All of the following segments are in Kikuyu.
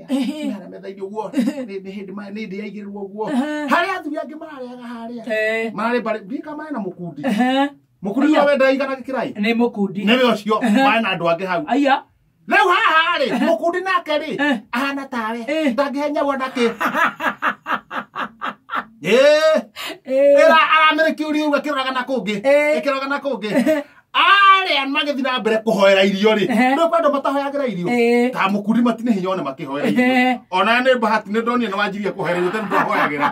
ya Ehe. na metha-inĩ ũguo nĩ nĩ hĩndĩ ma- nĩ hĩndĩ yaigĩrĩrwo ũguo Ehe. harĩa athuri angĩ marareaga harĩa Eh, mararĩ mbarĩ ndika marĩ na mũkundi ehe. mũkundi Aya. ũrĩa wendaga igana gĩkĩrai nĩ mũkundi nĩwe ũcio Ehe. marĩ na andũ angĩ hau aya rĩu haha rĩ mũkundi nake rĩ Eh. ahana tawe Eh. ndangĩhenyagwo ndakĩ ĩra aramĩrĩkia ũria uga kĩroraga na kũngĩ Eh. ĩkĩroraga na kũngĩ arĩa magĩthiĩ na mbere kũhoera irio rĩ Ehe. nĩ kwenda matahoyagĩra irio Eh. ta mũkundi matinĩ hinya one makĩhoera irio Ehe. ona nĩ bahati nĩ ndonire nĩ wanjirie kũhoera irio tena ndahoyagĩra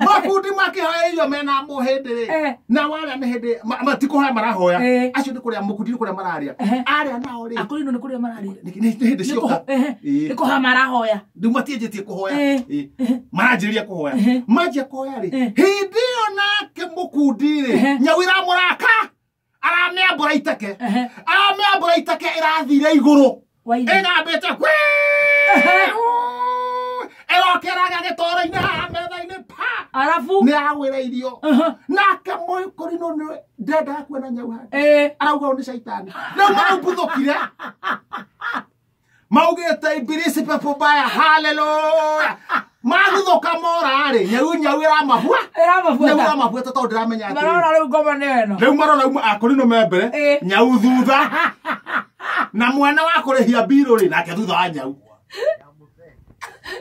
makundi makĩhoera irio mena mũ hĩndĩ rĩ Eh. na warĩa nĩ hĩndĩ ma- matikũhoya marahoya Eh. acio nĩ kũrĩa mũkundi nĩ kũrĩa mararĩa Ehe. arĩa nao rĩ akũrĩ ino nĩ kũrĩa mararĩa nĩ nĩ hĩndĩ cioka Nĩkũ- ehe, Eh. nĩkũha marahoya rĩu matianjĩtie kũhoya Eh. Ĩ, maranjĩrĩria kũhoya Eh. manjia kũhoya rĩ Eh. hĩndĩ ĩyo nake mũkundi rĩ Ehe. nyau ĩramũraka aramĩambũra iteke Ehe. aramĩambũra iteke ĩrathire igũrũ Wairi. ĩgambĩte kwĩ ĩrokeraga gĩtoro-inĩ haha metha-inĩ pa arabu nĩ agwĩra irio Aha. nake mũkũri no nĩ ndendaga kuona nyau hake Eh. arauga ũyũ nĩ caitani rĩu maraumbũthũkire maugĩte ibilisi pepo mbaya haleluya maguthũka morarĩ nyau nyau ĩramahua nyau ĩramabuata ĩramabuata tondũ ndĩramenya atĩrĩ marona rĩu ngoma nĩ ĩno rĩu marona uma akorino me mbere Ĩ. nyau thutha na mwena wa kũrĩhia mbirũ rĩ nake thutha wa nyau